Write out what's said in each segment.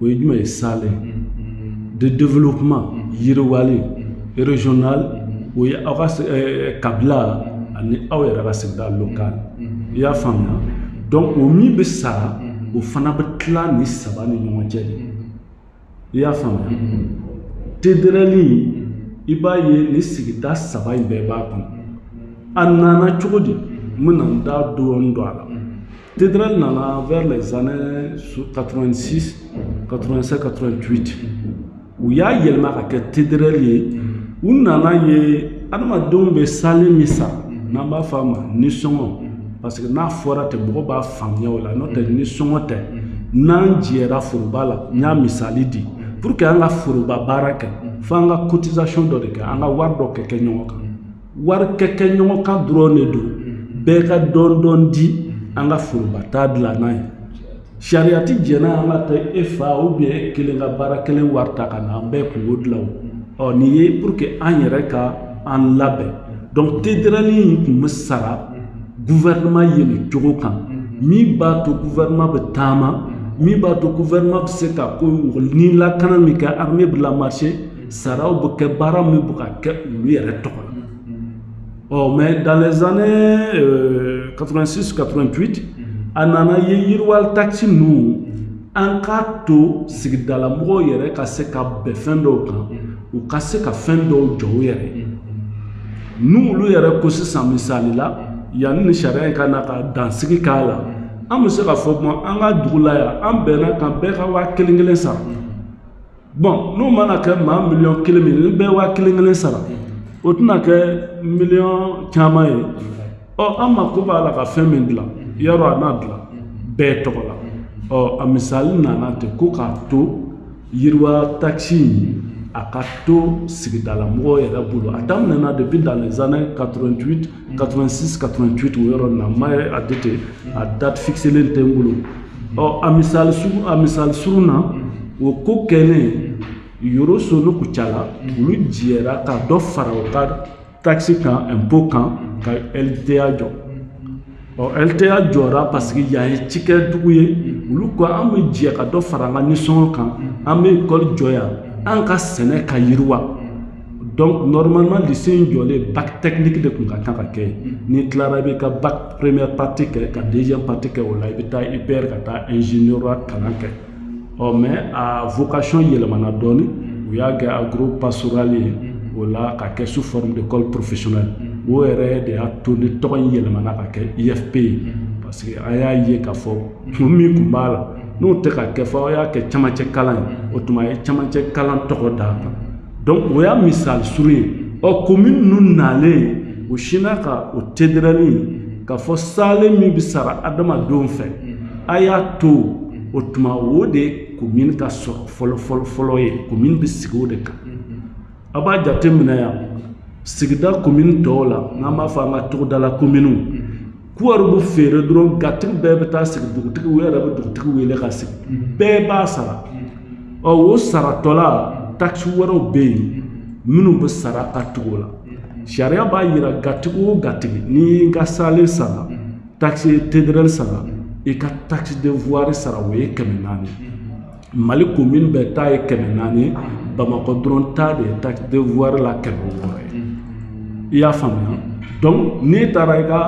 o ye jumɛn ye salen de développement yiriwali régional o ye aw ka eh, kabila ani aw yɛrɛ ka sigida local i y'a faamuya donc o min bɛ sara o fana bɛ tila ni saba ni ɲɔgɔn cɛ de i y'a faamuya TDRL i b'a ye ni sigida saba in bɛɛ b'a kɔnɔ a nana cogo di n bɛna n da dɔɔni don a la TDRL nana vers les années 86, 87, 88. U y'a yɛlɛma ka kɛ TDRL ye u nana ye adamadenw bɛ salen min sara n'an b'a fɔ a ma nisɔngɔ parce que n'a fɔra ten mɔgɔ b'a faamuya o la n'o tɛ nisɔngɔ tɛ n'an jɛra foroba la n y'a misali di pour que an ka foroba baara kɛ fo an ka cotisation dɔ de kɛ an ka wari dɔ kɛ kɛ ɲɔgɔn kan wari kɛ kɛ ɲɔgɔn kan dɔrɔn de don bɛɛ ka dɔɔni dɔɔni di an ka foroba ta dilan n'a ye sariya ti jɛn n'a an ka taa e fa ou bien e kelen ka baara kɛlen wari ta ka na an bɛɛ kunko dilan ɔ nin ye pour que an yɛrɛ ka an labɛn donc TDRL in kun bɛ sara guvɛrɛnɛma ye nin cogo kan min b'a to guvɛrɛnɛma bɛ taama min b'a to guvɛrɛnɛma bɛ se ka ko ni lakana min kɛ armée bɛ lamarcher saraw bɛ kɛ baara min bɛ ka kɛ olu yɛrɛ tɔgɔ la ɔ mais dans les années euh, 86 88 a nana ye yiriwali taxe ninnu an k'a to sigidala mɔgɔw yɛrɛ ka se ka bɛn fɛn dɔw kan u ka se ka fɛn dɔw jɔ u yɛrɛ ye n'olu yɛrɛ ko sisan misali la yanni ni sariya in ka na ka dansigi k'a la an bɛ se k'a fɔ kuma an ka dugu la yan an bɛnn'a kan bɛɛ ka waa kelen kelen sara bon n'u mana kɛ maa miliyɔn kelen min ni bɛɛ waa kelen kelen sara o tɛna kɛ miliyɔn caman ye ɔ an mako b'a la ka fɛn min dilan yɔrɔ an n'a dilan bɛɛ tɔgɔ la ɔ a misali nana ten ko k'a to yiriwa takisi in a ka to sigidala mɔgɔw yɛrɛ bolo a daminɛna depuis dans les années 88 86 88 o yɔrɔ na mais a date a date fixelen tɛ n bolo ɔ a misali sugu a misali surun na o ko kɛlen Yoroso n'u Kucala olu jɛra ka dɔ fara u ka taxe kan impôt kan ka LTA jɔ ɔ LTA jɔra parce que yan ye cikɛdugu ye olu ko an bɛ jɛ ka dɔ fara an ka nisɔngɔ kan an bɛ ekɔli jɔ yan an ka sɛnɛ ka yiriwa donc normalement lycée in jɔlen bac technique de kun ka kan ka kɛ n'i tilara i bɛ ka bac première partie kɛ ka deuxième partie kɛ o la i bɛ taa IPR ka taa ingénieur kalan kɛ ɔ mais a vocation yɛlɛmana dɔɔni u y'a kɛ agro pastoral ye o la ka kɛ sous forme d'école professionnelle o yɛrɛ de y'a to ni tɔgɔ in yɛlɛmana ka kɛ IFP ye parce que an y'a ye k'a fɔ kun min kun b'a la n'o tɛ ka kɛ fɔ aw y'a kɛ camancɛ kalan ye o tuma a ye camancɛ kalan tɔgɔ d'a kan donc o y'a misali surun ye ɔ commune ninnu nalen o sinna ka o TDRL k'a fɔ salen min bɛ sara adamadenw fɛ a y'a to o tuma o de commune ka sɔrɔ fɔlɔfɔlɔfɔlɔ ye commune bɛ sigi o de kan a b'a jate minɛ yan sigida commune tɔw la n'an b'a fɔ an ka togodala communew kuwari bɛ feere dɔrɔn gatigi bɛɛ bɛ taa sigi dugutigi u yɛrɛ bɛ dugutigi wele ka sigi bɛɛ b'a sara ɔ o saratɔla taxe wɛrɛw bɛ yen minnu bɛ sara ka tugu o la sariya b'a yira gatigi o gatigi n'i y'i ka salen sara taxe TDRL sara i ka taxe de voirie sara o ye kɛmɛ naani mali commune bɛɛ ta ye kɛmɛ naani bamakɔ dɔrɔn ta de ye taxe de voirie la kɛmɛ wɔɔrɔ ye i y'a faamuya donc n'i taara i ka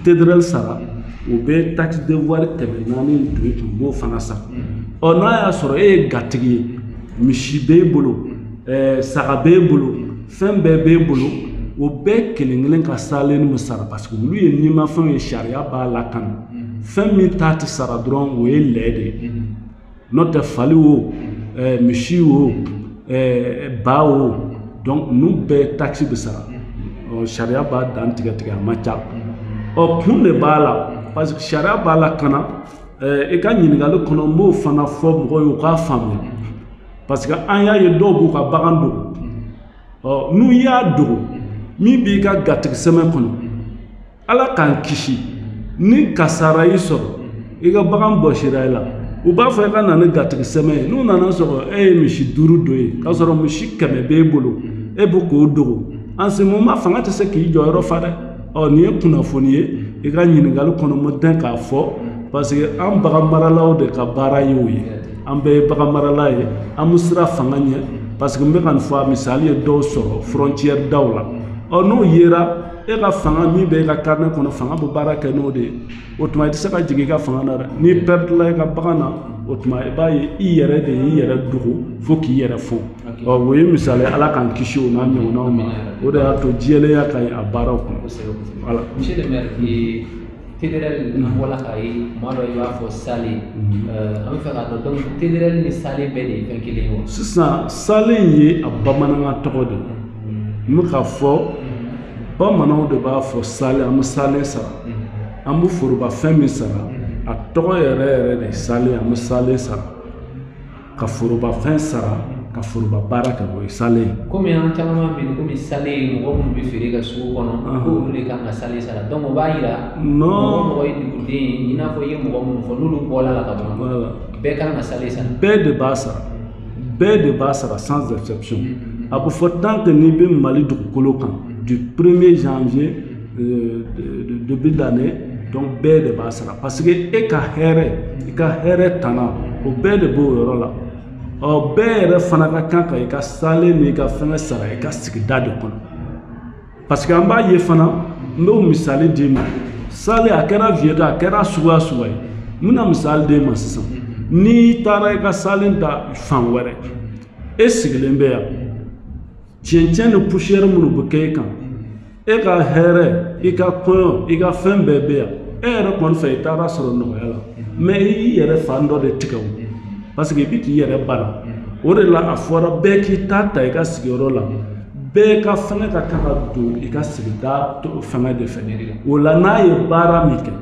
TDRL sara u bɛ taxe de voirie kɛmɛ naani don i kun b'o fana sara ɔ n'a y'a sɔrɔ e ye gatigi ye misi b'e bolo saga b'e bolo fɛn bɛɛ b'e bolo o bɛɛ kelen kelen ka salen bɛ sara parce que olu ye nimafɛnw ye sariya b'a lakana fɛn min ta tɛ sara dɔrɔn o ye lɛ de ye n'o tɛ fali wo eh, misi wo eh, ba wo donc ninnu bɛɛ taxe bɛ sara ɔ sariya b'a dan tigɛ tigɛ a ma ca ɔ kun de b'a la parce que sariya b'a lakana eh, i ka ɲininkali kɔnɔ n b'o fana fɔ mɔgɔw ye u k'a faamuya parce que an y'a ye dɔw b'u ka bagan dogo ɔ n'u y'a dogo min b'i ka gatigi sɛbɛn kɔnɔ ala k'an kisi ni kasara y'i sɔrɔ i ka bagan bɔsira i la u b'a fɔ i ka na ni gatigi sɛbɛn ye n'u nana sɔrɔ e ye misi duuru don ye k'a sɔrɔ misi kɛmɛ b'e bolo e bɛ k'o dogo en ce moment fanga tɛ se k'i jɔyɔrɔ fa dɛ ɔ nin ye kunnafoni ye i ka ɲininkali kɔnɔ mo dɛn k'a fɔ parce que an bagan maralaw de ka baara ye o ye an bɛɛ ye bagan marala ye an bɛ siran fanga ɲɛ parce que n bɛ ka nin fɔ a misali ye dɔw sɔrɔ frontière daw la ɔ n'o yera e ka fanga min bɛ e ka carnet kɔnɔ fanga bɛ baara kɛ n'o de ye o tuma i tɛ se ka jigin i ka fanga na dɛ n'i pɛrɛdila i ka bagan na o tuma i b'a ye i yɛrɛ de y'i yɛrɛ dogo fo k'i yɛrɛ fɔ ɔ o ye misali ye ala k'an kisi o n'a ɲɔgɔnnaw ma o de y'a to jɛlenya ka ɲi a baaraw kɔnɔ. TDRL an bɔra k'a ye kuma dɔ i b'a fɔ salen an bɛ fɛ k'a dɔn donc TDRL ni salen bɛɛ de ye fɛn kelen ye wa sisan salen ye a bamanankan tɔgɔ de ye n bɛ k'a fɔ bamananw de b'a fɔ salen an bɛ salen sara an bɛ forobafɛn min sara a tɔgɔ yɛrɛ yɛrɛ de ye salen an bɛ salen sara ka forobafɛn sara ka foroba baara kɛ o ye salen ye kɔmi an caman bɛ kɔmi salen ye mɔgɔ minnu bɛ feere kɛ sugu kɔnɔ olu de kan ka salen sara donc o b'a jira mɔgɔ o mɔgɔ ye duguden ye i n'a fɔ i ye mɔgɔ minnu fɔ n'olu bɔr'a la ka ban bɛɛ kan ka salen sara bɛɛ de b'a sara bɛɛ de b'a sara sans exception a bɛ fɔ tant que n'i bɛ Mali dugukolo kan du premier janvier euh, début d'année donc bɛɛ de b'a sara parce que e ka hɛrɛ i ka hɛrɛ tana o bɛɛ de b'o yɔrɔ la ɔ bɛɛ yɛrɛ fana ka kan ka i ka salen n'i ka fɛngɛ sara i ka sigida de kɔnɔ parce que an b'a ye fana n b'o misali d'i ma salen a kɛra vieux a kɛra suguya o suguya ye n bɛna misali d'e ma sisan n'i taara i ka salen ta fan wɛrɛ e sigilen bɛ yan cɛncɛn ni poussière minnu bɛ kɛ e kan e ka hɛrɛ i ka kɔɲɔ i ka fɛn bɛɛ bɛ yan e yɛrɛ kɔni fɛ i taara sɔrɔ nɔgɔya la mais i y'i yɛrɛ fan dɔ de tigɛ o parce que i bɛ k'i yɛrɛ bana o de la a fɔra bɛɛ k'i ta ta i ka sigiyɔrɔ la bɛɛ ka fɛngɛ ka kan ka don i ka sigida fɛngɛ de fɛ o la n'a ye baara min kɛ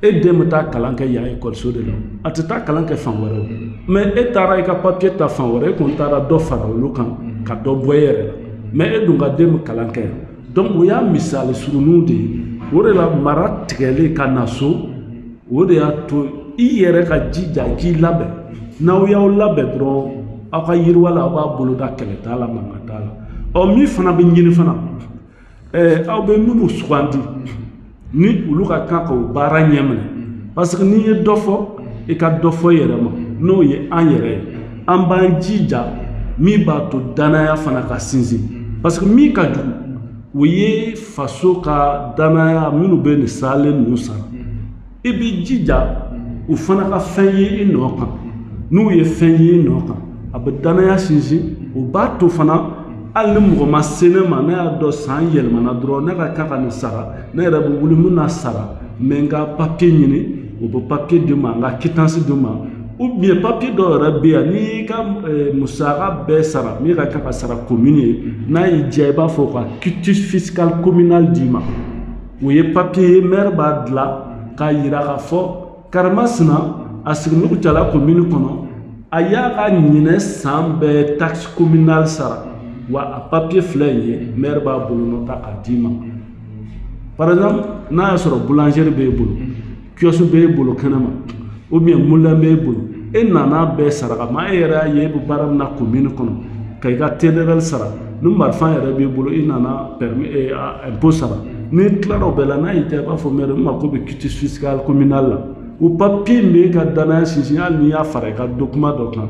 e den bɛ taa kalan kɛ yan ekɔliso de la a tɛ taa kalan kɛ fan wɛrɛ o mais e taara i ka papiye ta fan wɛrɛ e kɔni taara dɔ fara olu kan ka dɔ bɔ e yɛrɛ la mais e dun ka den bɛ kalan kɛ yan donc o y'a misali surunninw de ye o de la mara tigɛlen ka na so o de y'a to i yɛrɛ ka jija i k'i labɛn n'aw y'aw labɛn dɔrɔn aw ka yiriwa la aw b'a boloda kɛlɛ t'a la mankan t'a la ɔ min fana bɛ ɲini fana ɛɛ aw bɛ minnu sugandi ni olu ka kan ka o baara ɲɛminɛ parce que n'i ye dɔ fɔ i ka dɔ fɔ i yɛrɛ ma n'o ye an yɛrɛ ye an b'an jija min b'a to danaya fana ka sinsin parce que min ka jugu o ye faso ka danaya minnu bɛ nin salen ninnu sara i b'i jija u fana ka fɛn ye i nɔ kan n'u ye fɛn ye i nɔ kan a bɛ dannaya sinsin o b'a to fana hali ni mɔgɔ ma se ne ma ne y'a dɔn san yɛlɛmana dɔrɔn ne ka kan ka nin sara ne yɛrɛ bɛ wuli n bɛ n'a sara n bɛ n ka papiye ɲini u bɛ papiye di n ma n ka quittance di n ma ou bien papiye dɔw yɛrɛ bɛ yan n'i y'i ka eh, musaka bɛɛ sara min ka kan ka sara commune ye n'a y'i diya i b'a fɔ u ka quitus fiscal communal d'i ma o ye papiye ye mɛri b'a dilan k'a yira k'a fɔ karima sina a sigilen kucala komini kɔnɔ a y'a ka ɲinɛ san bɛɛ taxe communale sara wa a papiye filɛ nin ye mɛri b'a bolonɔ ta k'a d'i ma par exemple n'a y'a sɔrɔ boulangerie b'e bolo kiosque b'e bolo kɛnɛma ou bien moulin b'e bolo e nana bɛɛ sara kama e yɛrɛ y'a ye e bɛ baara min na commune kɔnɔ ka i ka tederɛli sara ni marifa yɛrɛ b'i bolo i nana impo sara n'i tilara o bɛɛ la n'a y'i diya i b'a fɔ mɛri n mako bɛ quitus fiscal communal la o papiye min bɛ e ka danaya sinsin hali n'i y'a fara i ka dokuma dɔ kan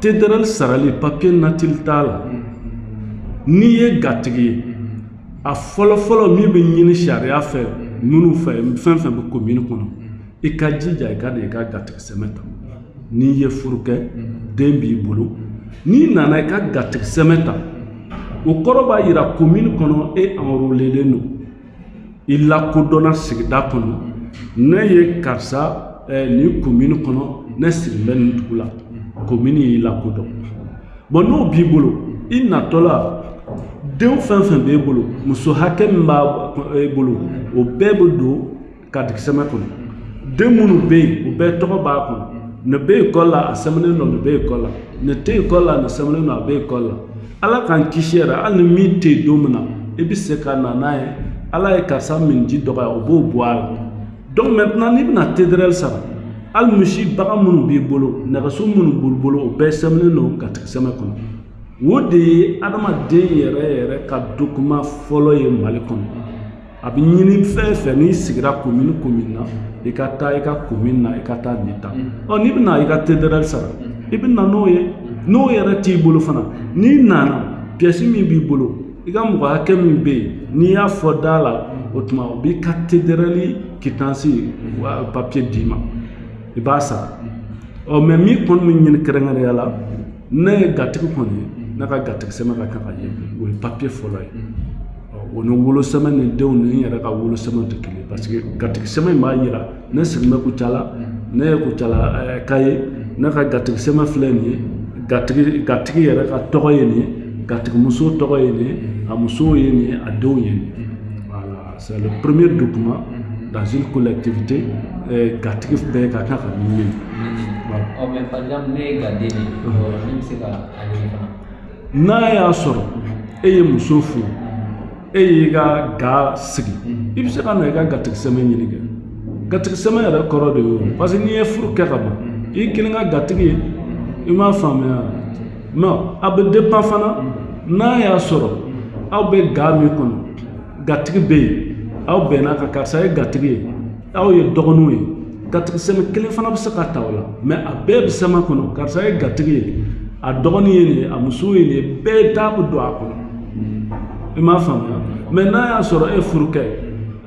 tederɛli sarali papiye natili t'a la n'i ye gatigi ye a fɔlɔfɔlɔ min bɛ ɲini sariya fɛ minnu fɛ fɛn fɛn bɛ komini kɔnɔ i ka jija i ka na i ka gatigi sɛmɛ ta n'i ye furu kɛ den b'i bolo n'i nana i ka gatigi sɛmɛ ta o kɔrɔ b'a yira komini kɔnɔ e enrolelen don i lakodɔnna sigida kɔnɔ ne ye karisa eh, nin komini kɔnɔ ne sigilen bɛ nin dugu la komini y'i lakodɔn bon n'o b'i bolo i natɔ la den fɛn fɛn b'e bolo muso hakɛ min b'e bolo o bɛɛ bɛ don gatigi sɛmɛ kɔnɔ den minnu bɛ yen o bɛɛ tɔgɔ b'a kɔnɔ nin bɛ ekɔli la a sɛmɛnen don nin bɛ ekɔli la nin tɛ ekɔli la nin sɛmɛnen don a bɛ ekɔli la ala k'an kisi yɛrɛ hali ni min tɛ yen don min na i bɛ se ka na n'a ye ala ye karisa minji dɔgɔya o b'o bɔ a la donc maintenant n'i bɛna tederɛli sara hali misi bagan minnu b'i bolo nɛgɛso minnu b'i bolo o bɛɛ sɛmɛnen don gatigi sɛmɛ kɔnɔ o de ye adamaden yɛrɛ yɛrɛ ka dokuma fɔlɔ ye mali kɔnɔ a bɛ ɲini fɛn o fɛn n'i sigira komini komini na i ka taa i ka komini na i ka taa nin ta ɔ n'i bɛna i ka tederɛli sara i bɛ na n'o ye n'o yɛrɛ t'i bolo fana n'i nana piyɛsi min b'i bolo i ka mɔgɔ hakɛ min bɛ yen n'i y'a fɔ da la o tuma o b'i ka tederɛli kitansi papiye d'i ma i b'a sara ɔ mɛ min kɔni bɛ ɲini kɛrɛnkɛrɛnya la ne ye gatigi kɔni ye ne ka gatigi sɛmɛ ka kan ka ye o ye papiye fɔlɔ ye o ni wolosɛmɛ ni denw ni n yɛrɛ ka wolosɛmɛ tɛ kelen parce que gatigi sɛmɛ in b'a yira ne sigilen bɛ kucala ne ye kucalaka ye ne ka gatigi sɛmɛ filɛ nin ye gatigi yɛrɛ ka tɔgɔ ye nin ye gatigimuso tɔgɔ ye nin ye a musow ye nin ye a denw ye nin ye C'est le premier document mhm. dans une collectivité euh, gatigi bɛɛ ka kan ka min ɲini ɔ mɛ par exemple ne ye gaden ye ne bɛ se ka a ɲini fana n'a y'a sɔrɔ e ye muso furu e y'i ka ga sigi mhm. i bɛ se ka na i ka gatigi sɛmɛ ɲini kɛ gatigi sɛmɛ yɛrɛ kɔrɔ de ye o mhm. parce que n'i ye furu kɛ ka ban i kelen ka gatigi ye i m'a faamuya non a bɛ dépend fana n'a y'a sɔrɔ aw bɛ ga min kɔnɔ gatigi bɛ yen aw bɛnna ka karisa ye gatigi ye aw ye dɔgɔninw ye gatigi sɛmɛ kelen fana bɛ se ka ta o la mais a bɛɛ bɛ sɛmɛ kɔnɔ karisa ye gatigi ye a dɔgɔnin ye nin ye a muso ye nin ye bɛɛ da bɛ don a kɔnɔ i m'a faamuya mais n'a y'a sɔrɔ e furu kɛ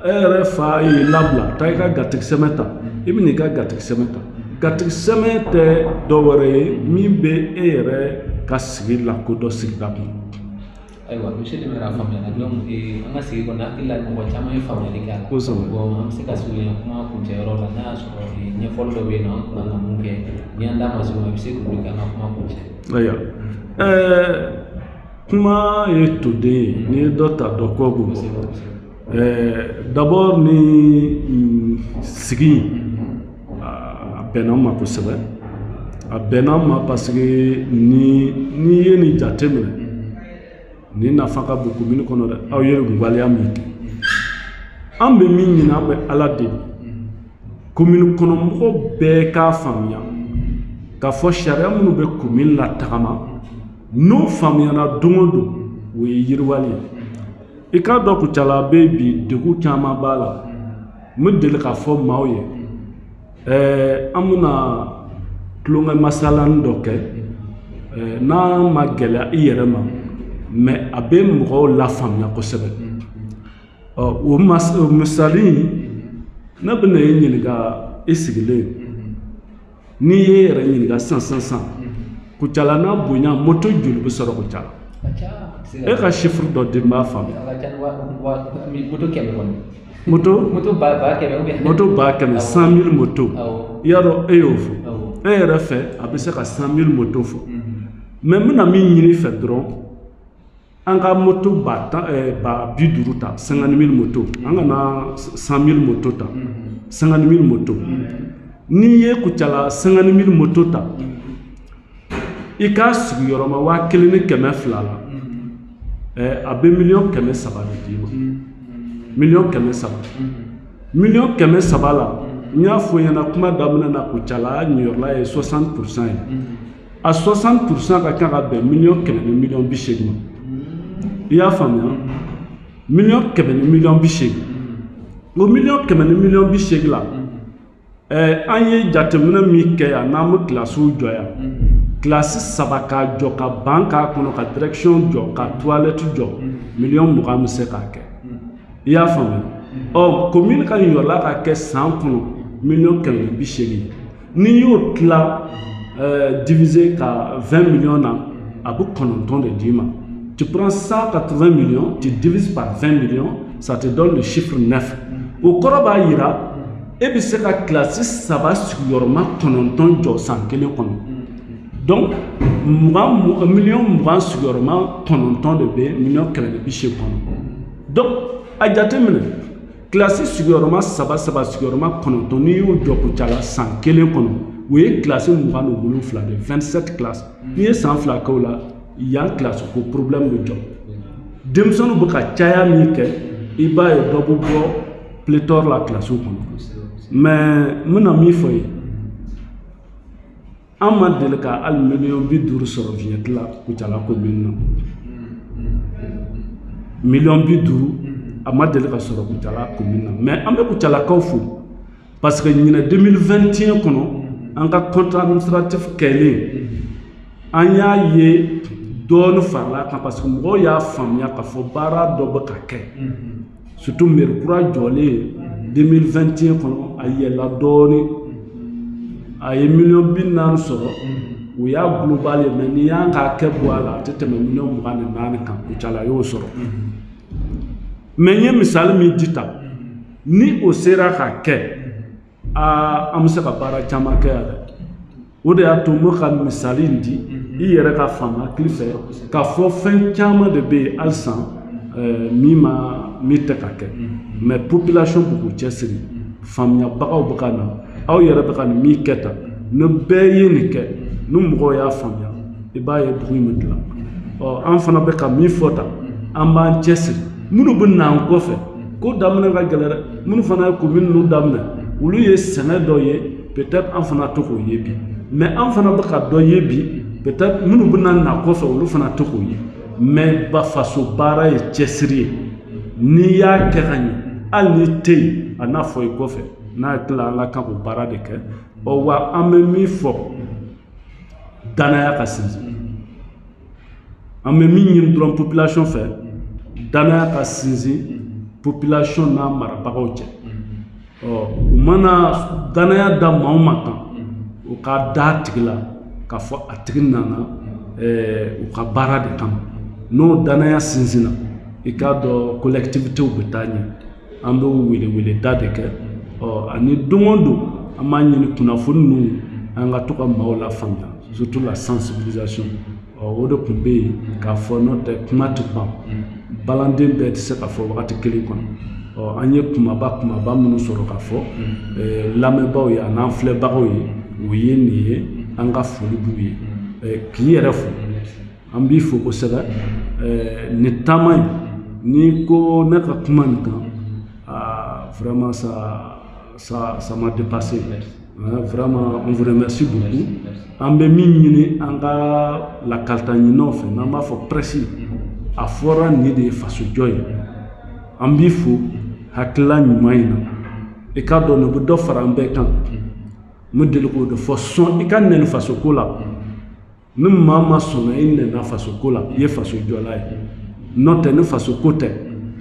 e yɛrɛ fa y'i labila taa i ka gatigi sɛmɛ ta i bɛ n'i ka gatigi sɛmɛ ta gatigi sɛmɛ tɛ dɔ wɛrɛ ye min bɛ e yɛrɛ ka sigi lakodɔn sigida kɔnɔ ayiwa monsieur le maire a faamuyana donc eh, an ka sigi kɔnɔ hakili la mɔgɔ caman ye faamuyali kɛ a la Kosɛbɛ. bon an bɛ se ka surunya kuma kuncɛyɔrɔ la n'a y'a sɔrɔ eh, ɲɛfɔli dɔ bɛ yen nɔ an tun kan ka mun kɛ ni an da ma se o ma i bɛ se k'olu kɛ an ka kuma kuncɛ ayiwa ɛɛ kuma ye toden ye n'i ye dɔ ta dɔ kɔ bɛ bɔ kosɛbɛ kosɛbɛ d'abord nin sigi a bɛnna n ma kosɛbɛ a bɛnna n ma parce que ni n'i ye nin jate minɛ nin nafa ka bon komini kɔnɔ dɛ aw ye waleya min kɛ an bɛ min ɲini an bɛ ala deli komini kɔnɔ mɔgɔ bɛɛ k'a faamuya k'a fɔ sariya minnu bɛ komini latagama n'o faamuyana don o don o ye yiriwali ye i k'a dɔn kucala bɛ bi degun caman b'a la n bɛ deli k'a fɔ maaw ye ɛɛ an bɛna tulonkɛ masalani dɔ kɛ n'a ma gɛlɛya i yɛrɛ ma mais a bɛ mɔgɔw lafaamuya kosɛbɛ ɔ o misali ne bɛna e ɲininka i sigilen n'i y'i yɛrɛ ɲininka sisan kucala n'a bonya moto joli bɛ sɔrɔ kucala e ka chiffre dɔ di n b'a faamu moto ba kɛmɛ cent mille moto i y'a dɔn e y'o fɔ e yɛrɛ fɛ a bɛ se ka cent mille moto fɔ mais n bɛna min ɲin'i fɛ dɔrɔn an ka moto ba tan eh, ba bi duuru ta cinquante mille moto an kana cent mille moto ta cinquante mille moto n'i ye kucala cinquante mille moto ta i k'a sigiyɔrɔma waa kelen ni kɛmɛ fila la eh, a bɛ miliyɔn kɛmɛ saba de d'i ma miliyɔn kɛmɛ saba miliyɔn kɛmɛ saba la n y'a fɔ ɲɛna kuma daminɛ na kucala niyɔrɔla ye 60 pourcent ye a 60 pourcent ka kan ka bɛn miliyɔn kɛmɛ ni miliyɔn bi seegin ma i y'a faamuya miliyɔn kɛmɛ ni miliyɔn bi seegin o miliyɔn kɛmɛ ni miliyɔn bi seegin la ɛɛ an ye jateminɛ min kɛ yan n'an bɛ kilasiw jɔ yan kilasi saba k'a jɔ ka ban k'a kɔnɔ ka direction jɔ ka toilette jɔ miliyɔn mugan bɛ se k'a kɛ i y'a faamuya ɔ commune ka niyɔrɔla ka kɛ san kɔnɔ miliyɔn kɛmɛ ni bi seegin n'i y'o tila euh, diviser ka 20 millions na a bɛ kɔnɔntɔn de d'i ma tu prends 180 millions tu divises par 20 millions ça te donne le chiffre 9 o kɔrɔ b'a jira e bɛ se ka kilasi saba sigiyɔrɔma kɔnɔntɔn jɔ san kelen kɔnɔ donc miliyɔn mugan sigiyɔrɔma kɔnɔntɔn de bɛ miliyɔn kɛmɛ ni bi seegin kɔnɔ donc a jateminɛ kilasi sigiyɔrɔma saba saba sigiyɔrɔma kɔnɔntɔn n'i y'o jɔ kucala san kelen kɔnɔ o ye kilasi mugan ni wolonfila de 27 classes n'i ye san fila kɛ o la yan kilasi ko problɛmu bɛ jɔ denmisɛnninw bɛ ka caya min kɛ i b'a ye dɔ bɛ bɔ pléthore la kilasiw kɔnɔ mɛ n bɛna min fɔ ye an ma deli ka hali miliyɔn bi duuru sɔrɔ vignette la kucala komin na miliyɔn bi duuru a ma deli ka sɔrɔ kucala komin na mɛ an bɛ kucalakaw fo parce que ɲinɛ 2021 kɔnɔ an ka compte administratif kɛlen an y'a ye dɔɔni farala kan parce que mɔgɔw y'a faamuya k'a fɔ baara dɔ bɛ ka kɛ surtout mɛri kura jɔlen 2021 kɔnɔ a yɛlɛla dɔɔnin a ye miliyɔn bi naani sɔrɔ o y'a global ye mɛ n'i y'an k'a kɛ bɔ a la a tɛ tɛmɛ miliyɔn mugan ni naani kan kucala y'o sɔrɔ mɛ n ye misali min di tan ni o sera ka kɛ aa an bɛ se ka baara caman kɛ yan dɛ o de y'a to n bɛ ka misali in di i yɛrɛ k'a faamu hakili fɛ k'a fɔ fɛn caman de bɛ yen halisa eh, min ma min tɛ ka kɛ mɛ population bɛ k'u cɛsiri faamuyabagaw bɛ ka na aw yɛrɛ bɛ ka nin min kɛ tan ni bɛɛ ye nin kɛ ni mɔgɔw y'a faamuya i b'a ye dugu in bɛ dilan ɔ an fana bɛ ka min fɔ tan an b'an cɛsiri minnu bɛ n'an kɔfɛ ko daminɛ ka gɛlɛn dɛ minnu fana ye komin ninnu daminɛ olu ye sɛgɛn dɔ ye peut-être an fana tɛ k'o ye bi mais an fana bɛ ka dɔ ye bi peut-être minnu bɛna na kɔfɛ olu fana tɛ k'o ye mais ba faso baara ye cɛsiri ye n'i y'a kɛ ka ɲɛ hali n'i tɛ yen a n'a fɔ i kɔfɛ n'a tila an ka kan k'o baara de kɛ ɔ wa an bɛ min fɔ danaya ka sinsin an bɛ min ɲini dɔrɔn population fɛ danaya ka sinsin population n'a marabagaw cɛ ɔ u mana danaya da maa o maa kan u ka da a tigi la k'a fɔ a tigi nana u ka baara de kama n'o danaya sinsinna i k'a dɔn collectivités bɛ taa ɲɛ an bɛ welewele da de kɛ ɔ ani don o don an b'a ɲini kunnafoni ninnu an ka to ka maaw lafaamuya surtout la sensibilisation ɔ o de kun bɛ yen k'a fɔ n'o tɛ kuma tɛ ban balanden bɛɛ tɛ se ka fɔ wagati kelen kɔnɔ ɔ an ye kumaba kumaba minnu sɔrɔ ka fɔ lamɛnbaaw ye an'an filɛbagaw ye o ye nin ye an ka foli b'u ye k'i yɛrɛ fo an b'i fo kosɛbɛ ni taama ye ni ko ne ka kuma nin kan vraiment ça m'a dépassé vraiment on vous remercie beaucoup an bɛ min ɲini an ka lakalita ɲininaw fɛ n'an b'a fɔ presse a fɔra nin de ye fasojɔ ye an b'i fo hakilila ɲuman in na i k'a dɔn nin bɛ dɔ fara an bɛɛ kan n bɛ deli k'o de fɔ sɔn i ka nɛni fasoko la ni maa ma sɔnna i nɛni na faso ko la i ye faso jɔla ye n'o tɛ ni faso ko tɛ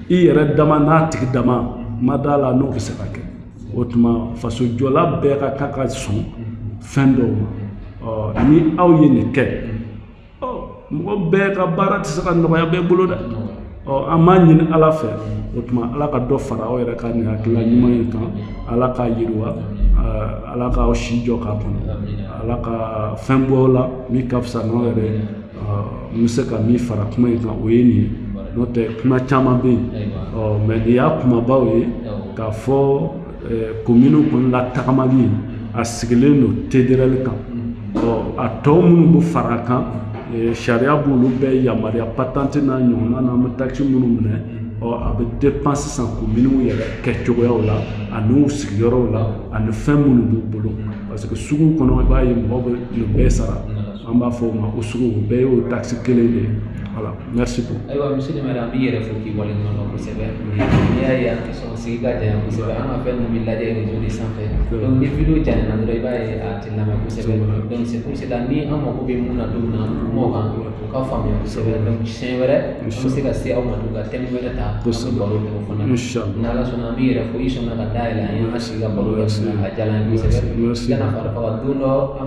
i yɛrɛ dama n'a tigi dama ma d'a la n'o bɛ se ka kɛ o tuma faso jɔla bɛɛ ka kan ka sɔn fɛn dɔw ma ɔ ni aw ye nin kɛ ɔ mɔgɔ bɛɛ ka baara tɛ se ka nɔgɔya bɛɛ bolo dɛ ɔ an b'a ɲini ala fɛ o tuma ala ka dɔ fara aw yɛrɛ ka nin hakilila ɲuman in kan ala k'a yiriwa ala k'aw si jɔ k'a kɔnɔ ala ka fɛn bɔ la min ka fisa n'aw yɛrɛ n bɛ se ka min fara kuma in kan o ye nin ye n'o tɛ kuma caman bɛ yen ɔ mais nin y'a kumabaw ye k'a fɔ communew kɔni latagamali a sigilen don TDRL kan a tɔ minnu bɛ fara kan sariya b'olu bɛɛ yamaruya patente n'a ɲɔgɔnna n'an bɛ taxe minnu minɛ a bɛ dépend sisan communew yɛrɛ kɛcogoyaw la ani u sigiyɔrɔw la ani fɛn minnu b'u bolo parce que sugu kɔnɔ i b'a ye mɔgɔ bɛ bɛɛ sara an b'a fɔ o ma ko sugu bɛɛ y'o taxe kelen de ye Merci beaucoup. Ayiwa monsieur le maire an b'i yɛrɛ fo k'i waleɲuman dɔn kosɛbɛ n'i y'a ye an tɛ sɔn sigi ka janya kosɛbɛ an ka fɛn ninnu bɛ lajɛ réseau de sanfɛ donc ni video janyana dɔrɔn i b'a ye a tɛ lamɛn kosɛbɛ donc c'est pour cela ni an mago bɛ mun na don min na an kum'o kan o ka faamuya kosɛbɛ donc siɲɛ wɛrɛ an bɛ se ka se aw ma tugun ka thème wɛrɛ ta an bɛ baro kɛ o fana na ni Ala sɔnna an b'i yɛrɛ fo i sɔnna ka da yɛlɛ an ye an ka sigi ka baro kɛ a diyara an ye kosɛbɛ i kana fari faga don dɔ an